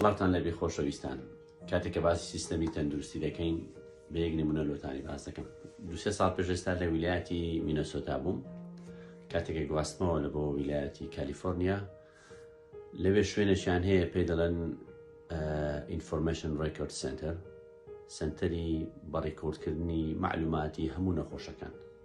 سڵاوتان لەبێ خۆشەویستان کاتێک کە باسی سیستەمی تەندروستی دەکەین بە یەک نمونە لۆتانی باس دەکەم دوسێ ساڵ پێش ئێستا لە ویلایەتی مینەسۆتا بووم کاتێکە گواستمەوە لە بۆ ویلایەتی کالیفۆرنیا لەوێ شوێنەشیان هەیە پێ دەڵێن ئینفۆرمشن ڕێکرد سنتەر سنتەری بەڕێکۆردکردنی معلوماتی هەموو نەخۆشەکان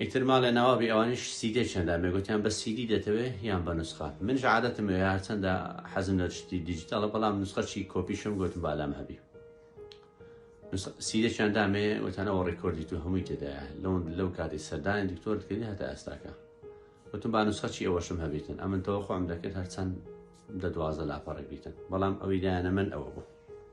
ئیتر ماڵێ ناوابی ئەوانیش سیدێ چەندە ئەمێ گۆتیان بە سیدی دەتەوێ یان بە نوسخە منیش عادەتم ئەوێ هەرچەندە حەزم لە شتی دیجیتاڵە بەڵام نوسخە چی کۆپیشم گۆتم با لام هەبی سیدێکیان دامێ وتانەوە ڕێکۆردی تو هەمووی تێدایە لەون لەو کاتی سەردانی دکتۆر دکردی هەتا ئێستاکە وتم با نوسخە چی ئەوەشم هەبیتن ئەمن تەوە خۆم دەکرد هەرچەند دە دوازە لاپەڕێک بیتن بەڵام ئەوی دایانە من ئەوە بوو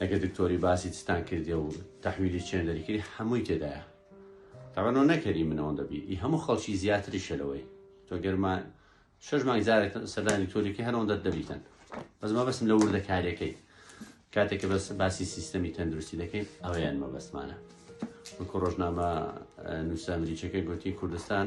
ئەگەر دکتۆری باسی چتان کردێ و تەحویلی چێندەری کردی هەمووی تێدایە تەبەنەوە نەکەری من ئەوەندە بی ئی هەموو خەڵکی زیاتریشە لەوەی تۆ گەرما شەش مانگ جارێک سەردانی دکتۆریکە هەرەوە دەر دەبیتن بەس ما بەسم لە وردەکاریەکەی کاتێککە بەس باسی سیستەمی تەندروستی دەکەین ئەویان مەبەستمانە وەکو ڕۆژنامە نووسە ئەمریکەکە گوتی کوردستان